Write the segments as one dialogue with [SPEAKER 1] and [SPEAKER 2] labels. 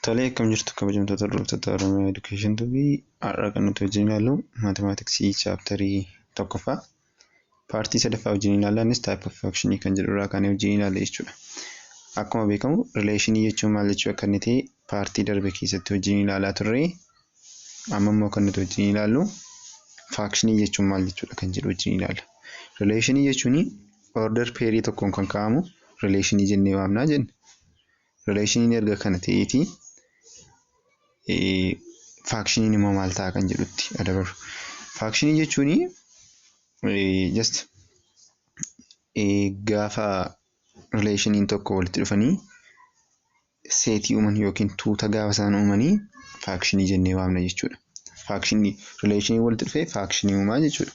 [SPEAKER 1] Tolee akkam jirtu kabajamtoota hordoftoota Oromiyaa Education Tube har'a kan nuti wajjin ilaallu maatimaatiksii chaaptarii tokkoffaa paartii sadaffaa wajjin ilaalla innis type of function kan jedhu irraa kaanee wajjin ilaalla jechuudha. Akkuma beekamu rileeshinii jechuun maal jechuu akka inni ta'e paartii darbe keessatti wajjin ilaalaa turre amma immoo kan nuti wajjin ilaallu faakshinii jechuun maal jechuudha kan jedhu wajjin ilaalla. Rileeshinii jechuun order peerii tokkoon kan kaa'amu rileeshinii jennee waamnaa jenna. Rileeshiniin erga kana ta'eeti faakshiniin immoo maal ta'a kan jedhutti adabaru. Faakshinii jechuun just gaafa rileeshiniin tokko walitti dhufanii seetii uuman yookiin tuuta gaafa isaan uumanii faakshinii jennee waamna jechuudha. Faakshinii rileeshinii walitti dhufee faakshinii uumaa jechuudha.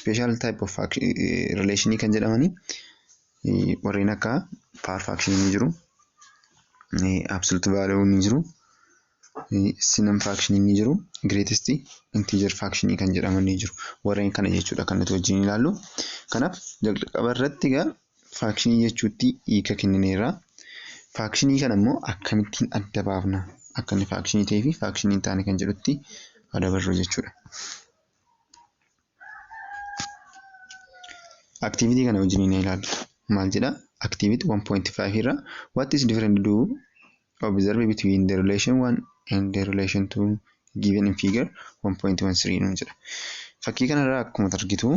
[SPEAKER 1] Special type of relation kan jedhamani warreen akka power fraction ni jiru. Absolute value ni jiru. Simum fraction ni jiru. Greatest integer fraction kan jedhaman ni jiru. Warreen kana jechuudha kan nuti wajjin ilaallu. Kanaaf jalqaba irratti egaa fraction jechuutti hiika kennineerra. Fraction kana immoo akkamittiin adda baafna? Akka inni fraction ta'ee fi fraction hin taane kan jedhutti adabarru jechuudha. Activity kana wajjin ni ilaallu. Maal jedha? Activity 1.5 irra what is different do observe between the relation 1 and the relation 2 given in figure 1.13 nuun jedha. Fakkii kanarraa akkuma argitu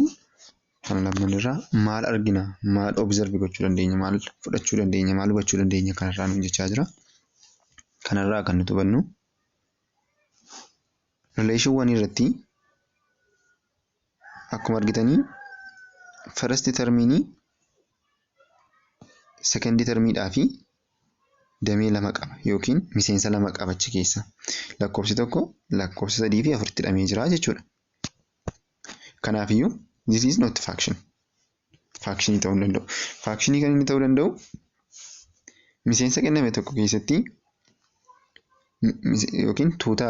[SPEAKER 1] kan lamman irraa maal argina? Maal observe gochuu dandeenya? Maal fudhachuu dandeenya? Maal hubachuu dandeenya? Kanarraa nuun jechaa jira. Kanarraa kan nuti hubannu Noleeshiiwwan irratti akkuma argitanii first termiinii second termiidhaa fi damee lama qaba yookiin miseensa lama qaba achi keessa. Lakkoofsi tokko lakkoofsa sadii fi afuritti hidhamee jira jechuudha. Kanaafiyyuu this is not faction. faakshinii ta'uu hin danda'u. Faakshinii kan inni ta'uu danda'u miseensa kenname tokko keessatti yookiin tuuta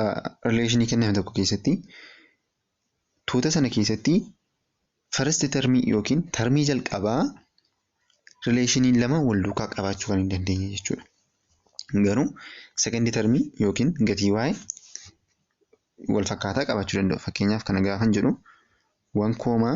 [SPEAKER 1] rileeshinii kenname tokko keessatti tuuta sana keessatti first termii yookiin termii jalqabaa rileeshiniin lama wal duukaa qabaachuu kan hin dandeenye jechuudha. Garuu second termii yookiin gatii waa'ee wal fakkaataa qabaachuu danda'u. Fakkeenyaaf kana gaafan jedhu 1 koomaa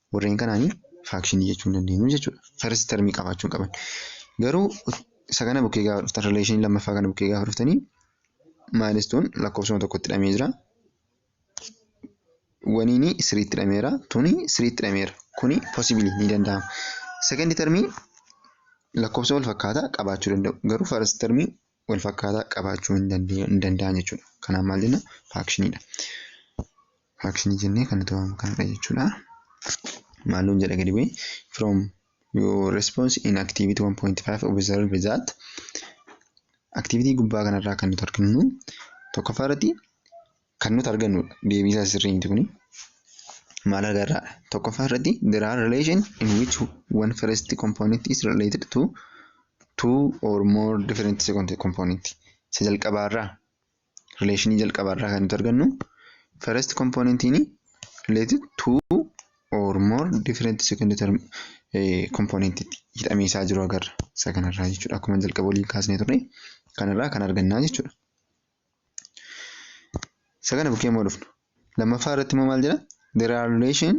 [SPEAKER 1] Warreen kanaan faakshinii jechuu hin dandeenyu jechuudha. First term qabaachuu hin qaban. Garuu isa kana bukkee gaafa dhuftan rileeshinii lammaffaa kana bukkee gaafa dhuftanii maayilistuun lakkoofsuma tokkotti hidhamee jira. Waniini siriitti hidhameera. Tuni siriitti hidhameera. Kuni possibly ni danda'ama. Second termii lakkoofsa wal fakkaataa qabaachuu danda'u. Garuu first termii wal fakkaataa qabaachuu hin danda'u- hin danda'an jechuudha. Kanaaf maal jenna? Faakshiniidha. Faakshinii jennee kan nuti waamnu kanadha jechuudha. Maal nuun jedha gadi bu'ee? From your response in activity 1.5 observe that activity gubbaa kanarraa kan nuti arginu tokkoffaa irratti kan nuti argannu deebii isaa sirrii miti kuni. Maal agarra? Tokkoffaa irratti there are relation in which one first component is related to two or more different second component. Isa jalqabaarraa relation jalqabaarraa kan nuti argannu first component ni related to or more different second term eh, component itti hidhamee isaa jiru agarra. Isa kanarraa jechuudha akkuma jalqaba waliin kaasnee turre kanarraa kan argannaa jechuudha. Isa kana bukkee immoo dhufna. Lammaffaa irratti immoo maal jedha? There are relation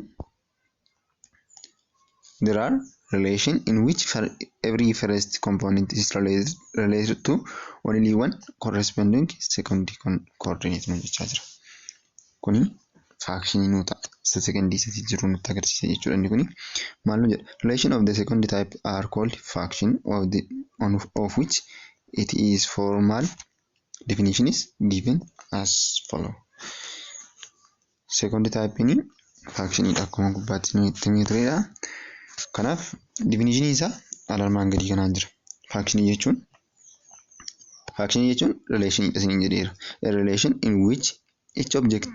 [SPEAKER 1] there are relation in which for every first component is related, related to only one corresponding second con- coordinate nu jechaa jira. Kuni faakshinii nu ta'a. Isa sekondii isatti jiru nutti agarsiisa jechuudha inni kuni. Maal nu jedha? Relation of the second type are called faction of the on of which it is formal Definition is given as follow. Second type ni function dha akkuma gubbaatti nu itti himee turedha. Kanaaf definition isaa alarmaan gadii kanaan jira. Function jechuun function jechuun relation dha isiniin jedheera. A relation in which each object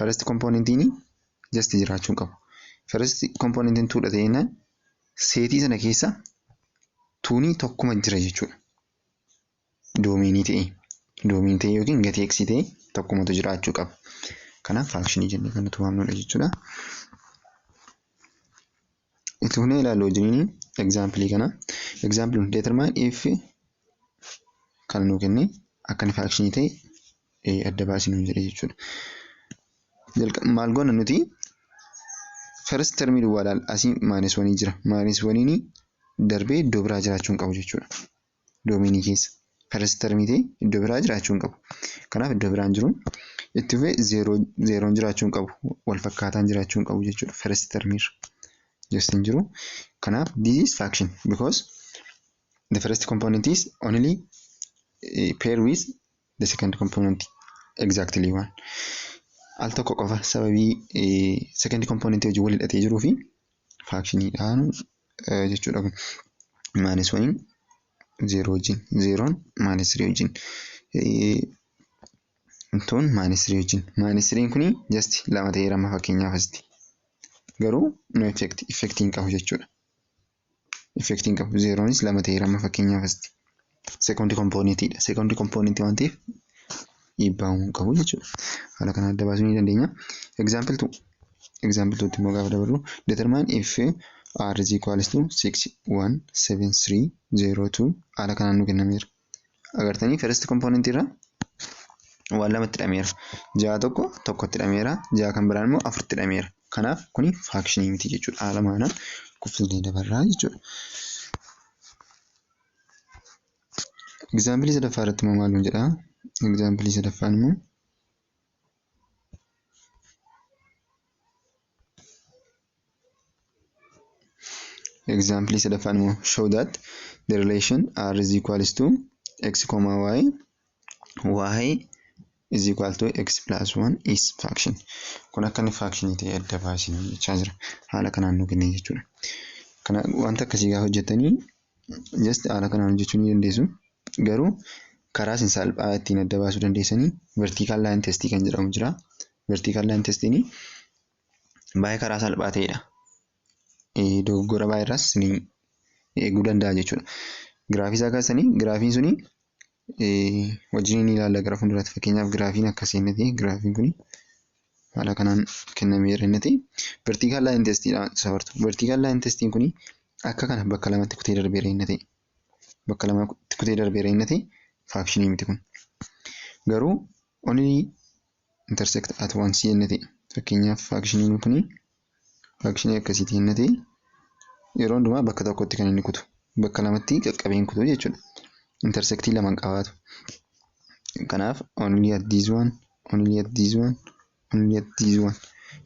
[SPEAKER 1] First componentiin just jiraachuu hin qabu. First componentiin tuudha ta'e jennaan seetii sana keessa tuunii tokkuma jira jechuudha. Doomeenii ta'e doomeenii ta'e yookiin gatii x ta'e tokkumatu jiraachuu qaba. Kanaaf faakshinii jennee kan nuti waamnudha jechuudha. Itti fufnee ilaallu wajjiniin egzaampilii kana. Egzaampilii nuti determine if kana nuu kennee akka inni faakshinii ta'e adda baasii nuun jedhe jechuudha. Maal goona nuti first termii duwwaa laal asii maayinas wanii jira. Maayinas waniin darbee iddoo biraa jiraachuu hin qabu jechuudha. doomiinii keessa. First termitii iddoo biraa jiraachuu hin qabu. Kanaaf iddoo biraan jiru. Itti fufee zeeroo zeeroon jiraachuu hin qabu. Wal fakkaataan jiraachuu hin qabu jechuudha. First termiirra. Just hin jiru. Kanaaf this is fraction because the first component is only eh, pair with the second component exactly one al tokko qofa sababii second component wajjin wal hidhatee jiruu fi faakshiniidhaan jechuudha kun maanis waliin zeeroo wajjin zeeroon maanis sirii wajjin tuun maanis sirii wajjin maanis siriin kun just lama ta'ee rama fakkeenyaaf asitti garuu no effect effect hin qabu jechuudha. effect hin qabu zeeroonis lama ta'eera amma fakkeenyaaf asitti sekondi kompoonitiidha sekondi kompooniti waan ta'eef dhiibbaa hin qabu jechuudha haala kana adda baasuu ni dandeenya example 2 example 2 immoo gaafa dabarru determine if r is equals to 617302 haala kanaan nu kennameera agartanii first component irra waan lamatti hidhameera. Ja'a tokko tokkotti hidhameera. Ja'a kan biraan immoo afuritti hidhameera. Kanaaf kuni faakshinii miti jechuudha. Haala maanaan kuffisnee dabarraa jechuudha. Egzaampilii sadaffaa irratti immoo maal nuun jedhaa? Egzaampilii sadaffaan immoo Example sadaffaan immoo show that the relation r is equals to x comma y y is equal to x plus 1 is fraction. Kun akka inni fraction ta'e adda baasinu jechaa jira. Haala kanaan nu kenne jechuudha. Kana wanta akkasii gaafa hojjettanii just haala kanaan hojjechuu ni dandeessu. Garuu karaa isin salphaa ittiin adda baasuu dandeessanii vertical line test kan jedhamu jira. Vertical line testiin baay'ee karaa salphaa ta'edha. Dogoggora baay'ee irraas ni eeguu danda'a jechuudha. Giraafii isaa kaasanii giraafiin suni wajjin ni ilaalla gara fuulduraatti fakkeenyaaf giraafiin akkasii inni ta'e giraafiin kuni haala kanaan kennameera inni ta'e vertical line test dha safartu. Vertical line test kuni akka kana bakka lamatti kutee darbeera inni ta'e bakka lamatti kutee darbeera inni ta'e faakshinii miti kun. Garuu only intersect at once yenna ta'e fakkeenyaaf faakshiniin kun faakshinii akkasiiti yenna ta'e yeroo hundumaa bakka tokkotti kan inni kutu bakka lamatti qaqqabee hin kutu jechuudha. Intersectii lama hin qabaatu. Kanaaf only at this one, only at this one, only at this one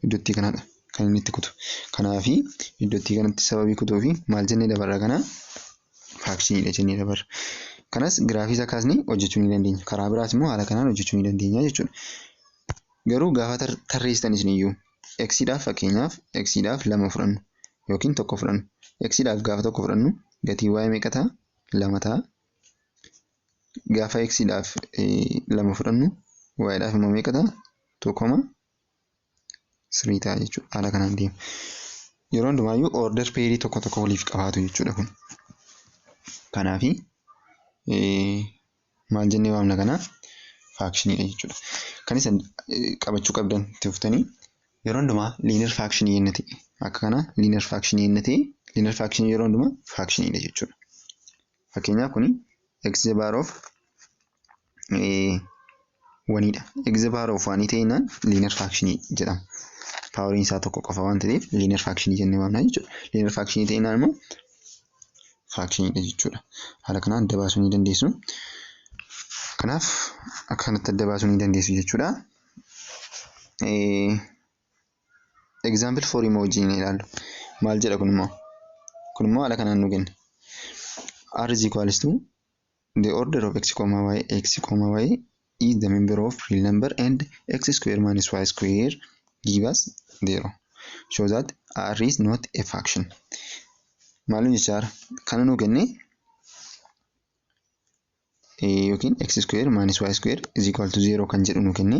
[SPEAKER 1] iddootti kanadha kan inni itti kutu. Kanaafi iddootti kanatti sababii kutuu fi maal jennee dabarra kana faakshinidha jennee dabarra. Kanas giraafii isaa kaasnee hojjechuu ni dandeenya. Karaa biraas immoo haala kanaan hojjechuu ni dandeenya jechuudha. Garuu gaafa tarreessitan isiniyyuu eksiidhaaf fakkeenyaaf eksiidhaaf lama fudhannu yookiin tokko fudhannu. Eksiidhaaf gaafa tokko fudhannu gatii waa'ee meeqa ta'a? Lama ta'a. Gaafa eksiidhaaf lama fudhannu waa'eedhaaf immoo meeqa ta'a? Tokkoma 3 ta'a jechuudha. Haala kanaan deema. Yeroo hundumaayyuu order pairii tokko tokko waliif qabaatu jechuudha kun. Kanaafi maal jennee waamna kana faakshiniidha jechuudha. Kan isin qabachuu qabdan itti fuftanii yeroo hundumaa liinar faakshinii yenna ta'e akka kana liinar faakshinii yenna ta'e liinar faakshinii yeroo hundumaa faakshiniidha jechuudha. Fakkeenyaaf kuni x the bar of waniidha. Eegza paawar of waanii ta'inaan liinar faakshinii jedhama. Paawariin isaa tokko qofa waan ta'eef liinar faakshinii jennee waamna jechuudha. Liinar faakshinii ta'inaan immoo faakshiniidha jechuudha. Haala kanaan adda baasuu ni dandeessu. Kanaaf akka kanatti adda baasuu ni dandeessu jechuudha. Example for immoo wajjin ilaallu. Maal jedha kun immoo? Kun immoo haala kanaan nu kenna. R is equals to The order of x comma y x comma y is the member of real number and x square minus y square give us 0. Show that r is not a fraction. Maalin jechaara kana nuu kenne yookiin x square minus y square is equal to 0 kan jedhu nuu kenne.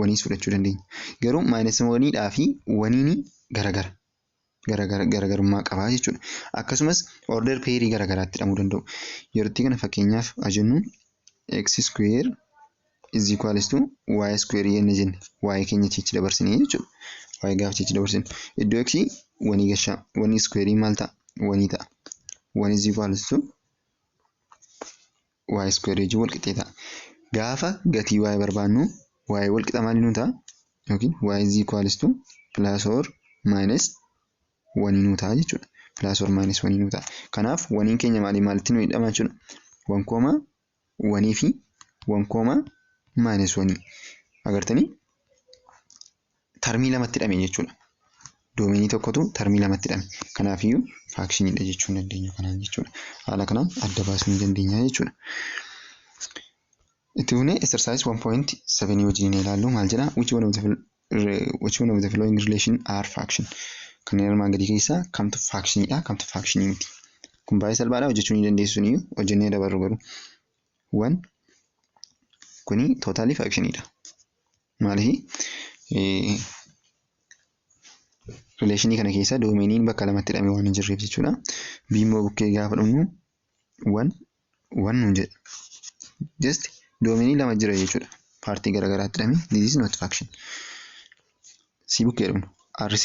[SPEAKER 1] waniis fudhachuu dandeenya. Garuu minus waniidhaa fi waniin garagara. Garagara garagarummaa qabaa jechuudha. Akkasumas order pairii garagaraatti hidhamuu danda'u. Yerootti kana fakkeenyaaf haa jennu x square is equals to y square yenna jenne y keenya chichi dabarsine jechuudha. y gaafa chichi dabarsine iddoo x wanii gashaa wanii square maal ta'a wanii ta'a. 1 is equals to y square wajjin wal qixxee ta'a. Gaafa gatii y barbaannu y wal qixa maalii nuu ta'a? Yookiin y is equals to plus or minus 1 nuu ta'a jechuudha. Plus or minus 1 nuu ta'a. Kanaaf waniin keenya maalii maalitti nuu hidhama jechuudha. 1 kooma 1 fi 1 kooma minus 1 agartanii? tarmii lamatti hidhame jechuudha. Doomeenii tokkotu tarmii lamatti hidhame. Kanaafiyyuu faakshinidha jechuu hin dandeenyu kanaan jechuudha. Haala kanaan adda baasuu ni dandeenya jechuudha. Itti fuunee exercise 1.7 wajjin ilaallu maal jedha? Which one of the which one of the following relation are faction? Kanneen armaan gadii keessaa kamtu faakshiniidha kamtu faakshinii miti? Kun baay'ee salphaadha hojjechuu ni dandeessu ni hojjennee dabarru garuu. Wan kuni tootaalii faakshiniidha. Maaliif rileeshinii kana keessa doomeeniin bakka lamatti hidhamee waan hin jirreef jechuudha. B immoo bukkee gaafa dhumnu wan wan nuun jedha. Just doomeenii lama jira jechuudha. Paartii garaagaraatti hidhamee this is not faction. C bukkee dhumnu R3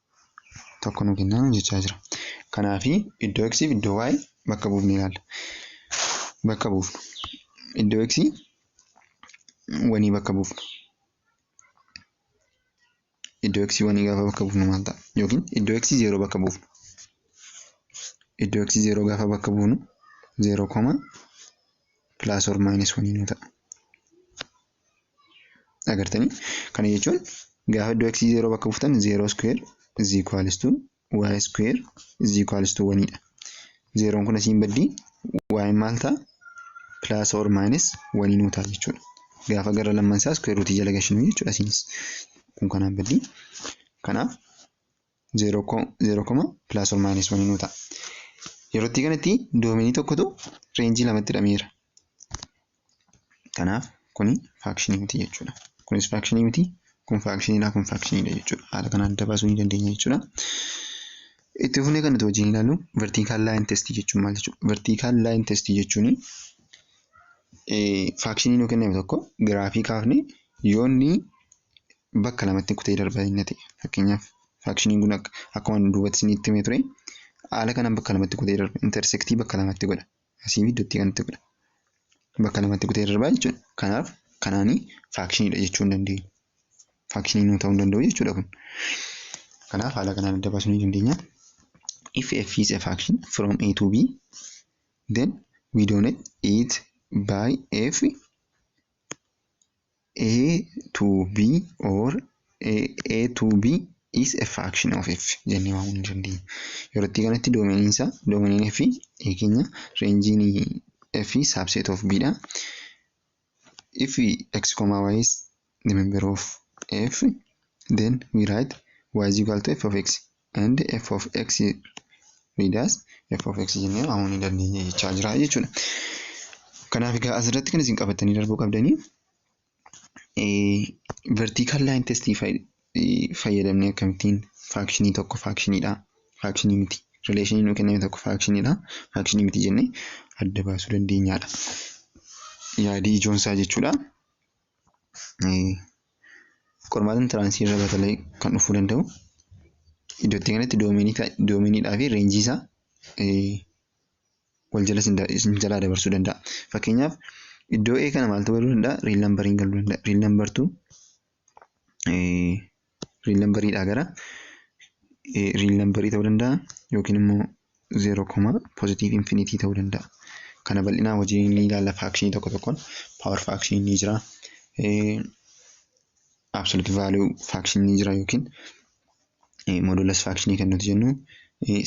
[SPEAKER 1] tokko nu kennaa nu jechaa jira. Kanaaf iddoo x fi iddoo y bakka buufnee ilaalla. Bakka buufnu. Iddoo x wanii bakka buufnu. Iddoo x wanii gaafa bakka buufnu maal ta'a? Yookiin iddoo x zeeroo bakka buufnu. Iddoo x zeeroo gaafa bakka buufnu zeeroo koma pilaas or maayinus wanii nu ta'a. Agartanii? Kana jechuun gaafa iddoo x 0 bakka buuftan 0 square is equals to y square is equals to 1 dha. Zeeroon kun asiin baddii y maal ta'a? Plus or minus 1 nuu ta'a jechuudha. Gaafa gara lamman isaa square root jala gashinu jechuudha asiinis. Kun kanaan baddii. Kanaaf 0 0 koma plus or minus 1 nuu ta'a. Yerootti kanatti doomenii tokkotu reenjii lamatti hidhameera. Kanaaf kuni faakshinii miti jechuudha. Kunis faakshinii miti, kun faakshiniidha, kun faakshiniidha jechuudha. Haala kanaan adda baasuu ni dandeenya jechuudha. Itti fufnee kan nuti wajjin ilaallu vertical line test jechuun maal jechuudha? Vertical line test jechuun faakshinii nuu kenname tokko giraafii kaafne yoo inni bakka lamatti kutee darba inni ta'e fakkeenyaaf faakshiniin kun akka akkuma duubatti isinitti himee ture haala kanaan bakka lamatti kutee darba intersektii bakka lamatti godha asii fi iddootti kanatti godha bakka lamatti kutee darba jechuudha kanaaf kanaanii faakshiniidha jechuu hin dandeenyu faakshinii nuu ta'uu hin danda'u jechuudha kun kanaaf haala kanaan adda baasuu ni dandeenya if f is a faction from a to b then we donate it by f A to B or A, A to B is a fraction of F jennee waamuu ni dandeenya. Yeroo itti kanatti doomeniin isaa doomeniin F A keenya reenjiin F subset of B dha. If X comma Y is the member of F then we write Y is equal to F of X. and f of x read as f of x jennee waamuu ni dandeenya jechaa jira jechuudha. Kanaaf egaa asirratti kan isin qabattanii darbuu qabdanii vertical line test fayyadamnee akkamittiin faakshinii tokko faakshiniidha faakshinii miti rileeshinii nuu kenname tokko faakshiniidha faakshinii miti jennee adda baasuu dandeenyaadha. Yaadii ijoon isaa jechuudha. Qormaatni intiraansii irra batalee kan dhufuu danda'u iddoo itti kanatti doomeeniidhaa fi reenjii isaa wal jala isin jalaa dabarsuu danda'a. Fakkeenyaaf iddoo A kana maaltu galuu danda'a? Riil nambariin galuu danda'a. Riil nambartu riil nambariidhaa gara riil nambarii ta'uu danda'a yookiin immoo zeeroo koma pozitiiv infinitii ta'uu danda'a. Kana bal'inaa hojii ni ilaalla faakshinii tokko tokkoon paawar faakshinii ni jira. Absolut vaaluu faakshinii ni jira yookiin modulas faakshinii kan nuti jennu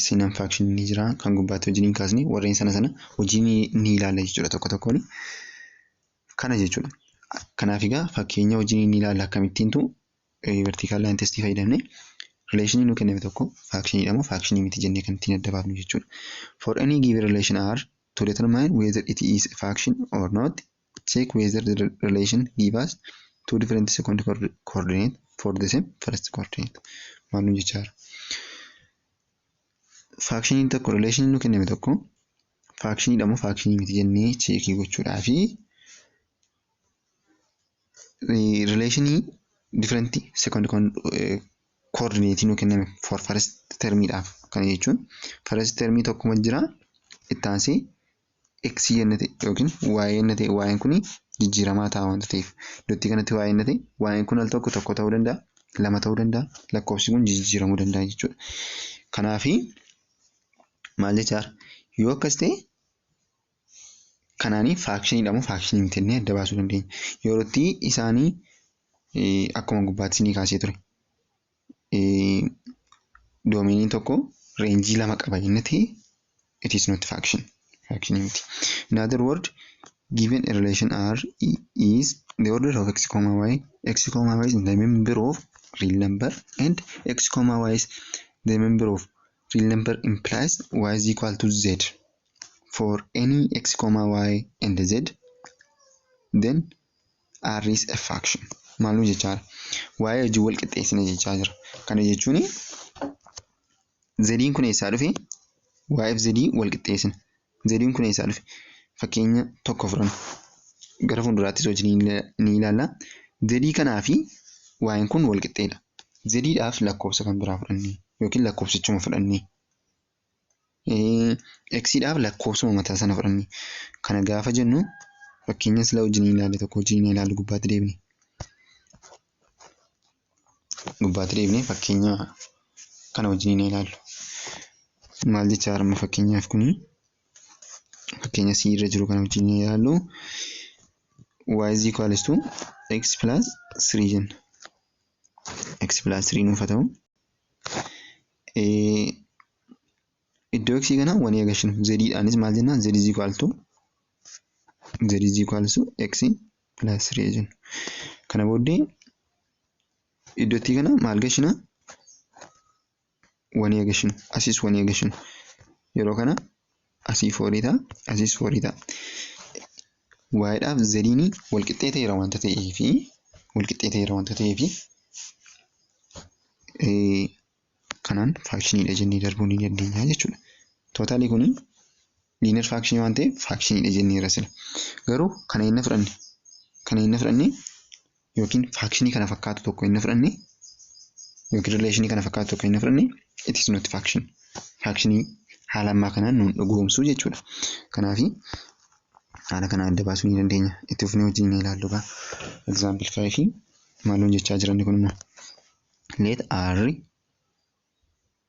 [SPEAKER 1] sinan faakshinii ni jira kan gubbaatti hojii ni kaasne warreen sana sana hojii ni ilaalla jechuudha tokko tokkoon. Kana jechuudha. Kanaaf egaa fakkeenya hojii ni ilaalla akkamittiintu vertical line test fayyadamne relation nu kenname tokko faction dha moo faction miti jennee kan ittiin adda baafnu jechuudha. For any given relation R to determine whether it is a faction or not check whether the relation give us two different second coordinate for the same first coordinate. Maal nu jechaa jira? Faakshiniin tokko relation nu kenname tokko faakshiniidha moo faakshini miti jennee cheekii gochuudhaa fi Rileeshinii different second koordineetii nu kenname for first termiidhaaf kana jechuun first termii tokkuma jira itti aansee x yenna ta'e yookiin y yenna ta'e y kun jijjiiramaa ta'a wanta ta'eef iddootti kanatti y yenna ta'e y kun al tokko tokko ta'uu danda'a lama ta'uu danda'a lakkoofsi kun jijjiiramuu danda'a jechuudha. Kanaafi maal jechaadha yoo akkas ta'e kanaanii faakshiniidha moo faakshinii miti jennee adda baasuu dandeenya. Yerootti isaanii akkuma gubbaatti isinii kaasee ture. Doomeeniin tokko reenjii lama qaba jennetti it is not faction. Faction miti. In other word, given a relation R is the order of x comma y, x comma y is the member of real number and x comma y is the member of real number implies y is equal to z. for any x comma y and z then r is a fraction maaluu jechaa jira waa'ee hojii wal qixxeessina jechaa jira kana jechuun zediin kun eessaa dhufe waa'eef zedii wal qixxeessina zediin kun eessaa dhufe fakkeenya tokko fudhanna gara fuulduraattis hojii ni ilaalla zedii kanaa fi waa'een kun wal qixxeedha zediidhaaf lakkoofsa kan biraa fudhannee yookiin lakkoofsichuma fudhannee X dhaaf lakkoofsuma mataa sana fudhanne. Kana gaafa jennu fakkeenya sila wajjin ilaale tokko wajjin ilaalu gubbaatti deebine. Gubbaatti deebine fakkeenya kana wajjin ilaalu. Maal jecha harma fakkeenyaaf kuni fakkeenya C irra jiru kana wajjin ilaalu. Y is equals to x plus 3 jenna. x plus 3 nuuf haa ta'u. Iddoo x kana wanii agashinu z dhaanis maal jennaan z is equal to z is equal to x plus 3 jennu. Kana booddee iddoo t kana maal gashina wanii agashinu asis wanii agashinu yeroo kana Asii foorii ta'a. Asiis foorii ta'a. Waa'eedhaaf zediin walqixxee ta'eera wanta ta'eef walqixxee ta'eera wanta ta'eef kanaan faakshiniidha jennee darbuu ni dandeenya jechuudha. Tootaalii kun liinar faakshinii waan ta'eef faakshiniidha jenneera sila. Garuu kana inni fudhanne kana inni fudhanne yookiin faakshinii kana fakkaatu tokko inni fudhanne yookiin rileeshinii kana fakkaatu tokko inni fudhanne it is not faction. Faakshinii haala ammaa kanaan nuun dhugoomsuu jechuudha. Kanaaf haala kana adda baasuu ni dandeenya. Itti fufnee wajjin ni ilaallu gaa. Example 5 maal nuun jechaa jiranni kun immoo. Let R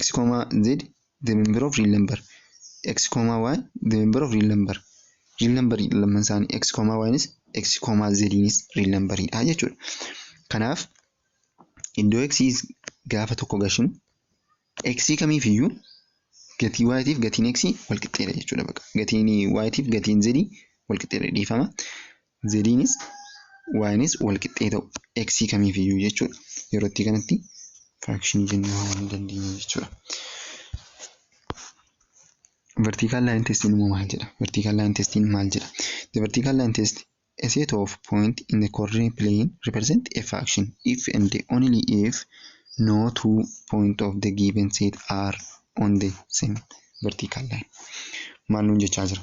[SPEAKER 1] x, z the member of real number x, y the member of real number real number lamman isaanii x, y nis x, z nis real number dha jechuudha. Kanaaf iddoo x gaafa tokko gashinu x kamiif iyyuu gatii y tiif gatiin x wal qixxeedha jechuudha baqa. Gatiin y tiif gatiin z wal qixxeedha dhiifama. znis ynis wal qixxee ta'u x kamiif iyyuu jechuudha. Yeroo itti kanatti firaakshinii jennee waamuu ni dandeenya jechuudha. Vertical line test immoo maal jedha? Vertical line test maal jedha? The vertical line test a set of point in the coordinate plane represent a fraction if and only if no two point of the given set are on the same vertical line. Maal nuun jechaa jira?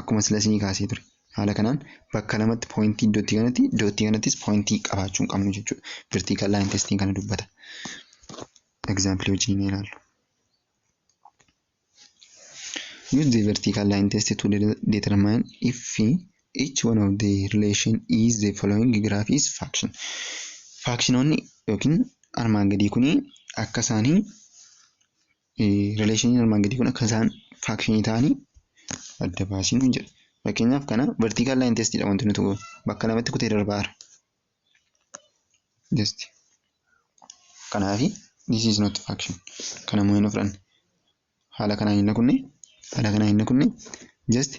[SPEAKER 1] Akkuma sila isinii kaasee ture. Haala kanaan bakka lamatti pooyintii dottii kanatti dottii kanattis pooyintii qabaachuu hin qabnu jechuudha. Vertical line testiin kana dubbata. Example wajjin ilaallu. Use the vertical line test to de- determine if each one of the relation is the following graph is function. Faakshinoonni yookiin armaan gadii kun akka isaanii Rileeshiniin armaan gadii kun akka isaan faakshinii ta'anii adda baasiin hin jedhu. Fakkeenyaaf kana vertical line test dha wanti nuti goonu. Bakka lamatti kutee darbaa jira. Just kanaafi this is not faction. Kana immoo hin fudhanne. Haala kanaan hin kunne haala kanaan hin kunne just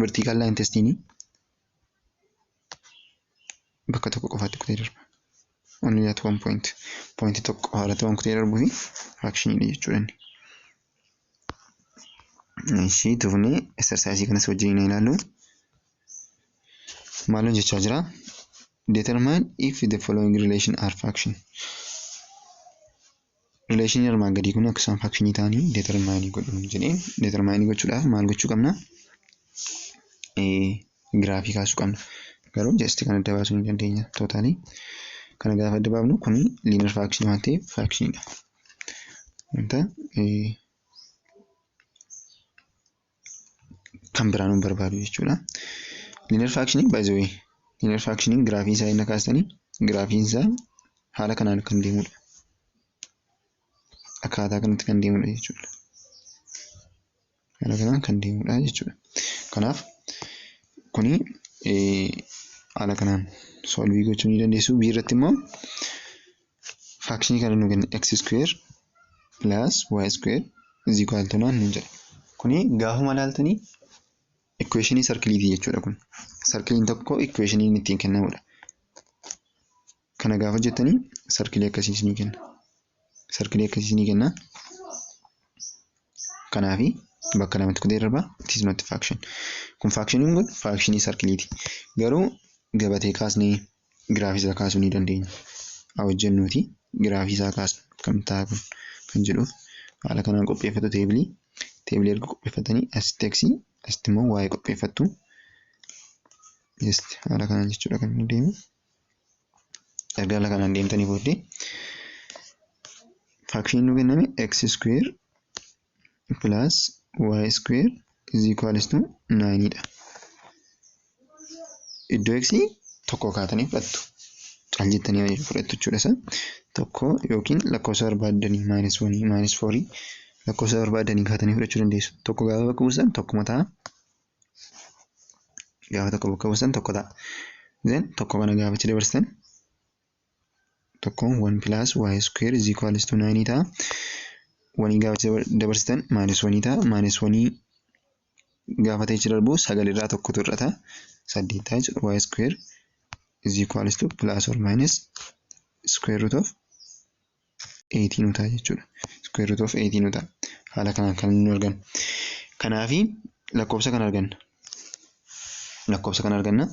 [SPEAKER 1] vertical line testing bakka tokko qofaatti kutee darba. Only at one point. Point tokko qofa irratti waan kutee darbuuf fraction dha jechuudha inni. Ishii tufnee exercise kanas wajjin hin ilaallu. Maaloo jechaa jira. Determine if the following relation are fraction. Rileeshinii armaan gadii kun akka isaan faakshinii ta'anii deetermaayinii godhu jedhee deetermaayinii gochuudhaaf maal gochuu qabna? Giraafii kaasuu qabna. Garuu jasti kan adda baasuu ni dandeenya tootaalii. Kana gaafa adda baafnu kun liinar faakshinii waan ta'eef faakshiniidha. Wanta kan biraa nu barbaadu jechuudha. Linear faakshiniin by the way linear faakshiniin giraafii isaa inni kaastanii giraafiin isaa haala kanaan kan deemudha. Akkaataa kanatti kan deemudha jechuudha. Haala kanaan kan deemudha jechuudha. Kanaaf kuni haala kanaan solvii gochuu ni dandeessu. Bii irratti immoo faakshinii kana nu kenna x square plus y square is equal to 9 nuun jedha. Kuni gaafuma ilaaltanii equationii sarkiliiti jechuudha kun. Sarkiliin tokko equationiin ittiin kennamudha. Kana gaafa jettanii sarkilii akkasii isinii kenna. Sarkilii akkasii isinii kenna. Kanaafi bakka lamatti kutee darba it is not faction. Kun faakshiniin kun faakshinii sarkiliiti. Garuu gabatee kaasnee giraafii isaa kaasuu ni dandeenya. Haa hojjennuuti giraafii isaa kaasna akkamitti ta'a kun kan jedhuuf haala kanaan qopheeffatu teebilii. Teebilii erga qopheeffatanii asitti x asitti immoo y qopheeffattu. Just haala kanaan jechuudha kan inni deemu. Erga haala kanaan deemtanii booddee faakshinii nu kenname x square plus y square is equals to 9 dha. Iddoo x tokko kaatanii fudhattu. Cal jettanii fudhattu jechuudha isa. Tokko yookiin lakkoofsa barbaaddanii minus 1 minus 4 lakkoofsa barbaaddanii kaatanii fudhachuu dandeessu. Tokko gaafa bakka buusan tokkuma ta'a. Gaafa tokko bakka buusan tokko ta'a. Then tokko kana gaafa itti dabarsitan tokko 1 plus y square is equals to 9 ta'a. Wanii gaafa dabarsitan minus 1 ta'a. Minus 1 gaafa ta'e darbu 9 irraa tokkotu hir'ata. 8 ta'a jechuudha. y square is equals to plus or minus square root of 8 nu ta'a jechuudha. Square root of 8 nu ta'a. Haala kanaan kan nu argannu. Kanaafi lakkoofsa kan arganna. Lakkoofsa kan arganna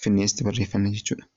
[SPEAKER 1] finneesitti barreeffanna jechuudha.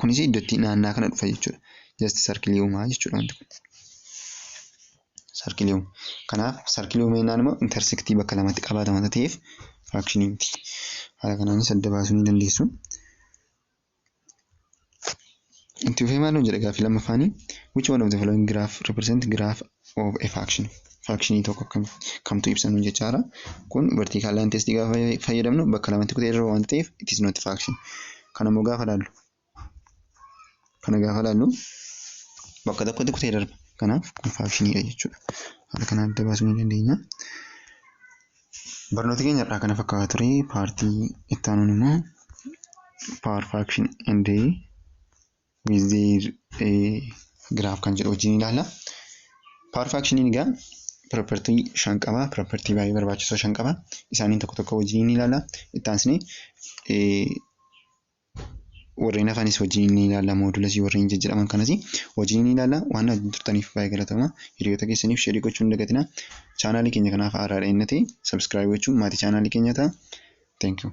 [SPEAKER 1] Kunis iddootti naannaa kana dhufa jechuudha. Just sarkilii uumaa jechuudha wanti kun. Sarkilii uuma. Kanaaf sarkilii uuma jennaan immoo intersektii bakka lamatti qabaata wanta ta'eef firaakshinii miti. Haala kanaanis adda baasuu ni dandeessu. Itti fufee maal nu jedha gaaffii lammaffaanii? Which one of the following graph represent graph of a faction faction tokko kam kamtu ibsa nu jechaara kun vertical line test gaafa fayyadamnu bakka lamatti kutee irra waan ta'eef it is not faction kana immoo gaafa laallu kana gaafa laallu bakka tokkotti kutee darba kanaaf kun faakshiniidha jechuudha haala kana adda baasuu ni dandeenya barnoota keenya irraa kana fakkaata ture paartii itti aanuun immoo power faction and with their graph kan jedhu wajjin ilaalla. Power fraction egaa property shan qaba. Property baay'ee barbaachisoo shan qaba. Isaaniin tokko tokko wajjin ni ilaalla. Itti aansinee warreen hafanis wajjin ni ilaalla. Moodulasii warreen jijjiiraman kanas wajjin ni ilaalla. Waan wajjin turtaniif baay'ee galatoomaa. Hiriyoota keessaniif sheerii gochuu hin dagatinaa. Chaanaalii keenya kanaaf haaraa dha'inna ta'e sabiskiraayib gochuun maatii chaanaalii keenya ta'a. Thank you.